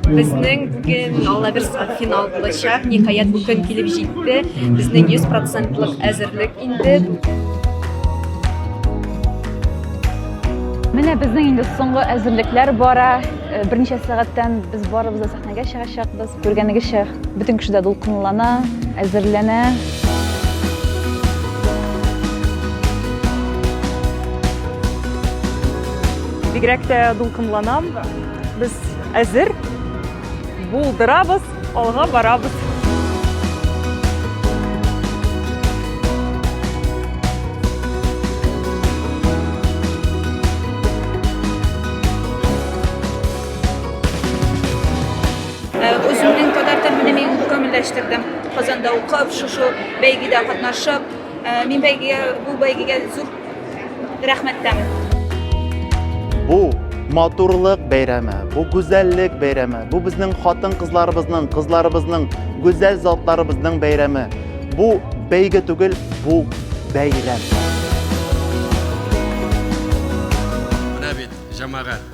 Безнең бүген Алла бирса финал булачак. Ниһаять бу көн килеп җитте. Безнең 100% әзерлек инде. Менә безнең инде соңгы әзерлекләр бара. Э, берничә сәгатьтән без барыбыз да сәхнәгә чыгачакбыз. Күргәнегезчә, Бөтен кеше дә дулкынлана, әзерләнә. Бигрәк тә дулкынланам. Без әзер, булдырабыз, алга барабыз. Үземнең татар телен мин камилләштердем. Казанда укып, шушы бәйгедә катнашып, мин бәйгегә бу бәйгегә зур рәхмәттәмен. Бу матурлык бәйрәме, бу гүзәллек бәйрәме, бу безнең хатын-кызларыбызның, кызларыбызның, гүзәл затларыбызның бәйрәме. Бу бәйге түгел, бу бәйрәм. Менә бит, җәмәгать.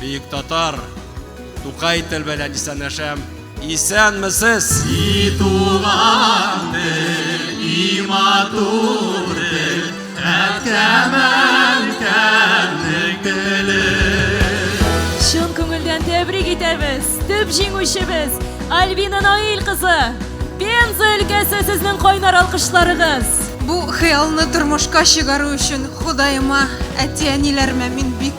Бөек татар! Тукай тел белән исәнләшәм. Исәнмесез! И туган тел, и матур тел, әткәмән кәннең теле. Чын күңелдән тәбрик итәбез! Төп җиңүчебез Альбина Наил кызы! Пенза өлкәсе сезнең кайнар алкышларыгыз! Бу хыялны тормышка чыгару өчен Ходаема, әти-әниләремә мин бик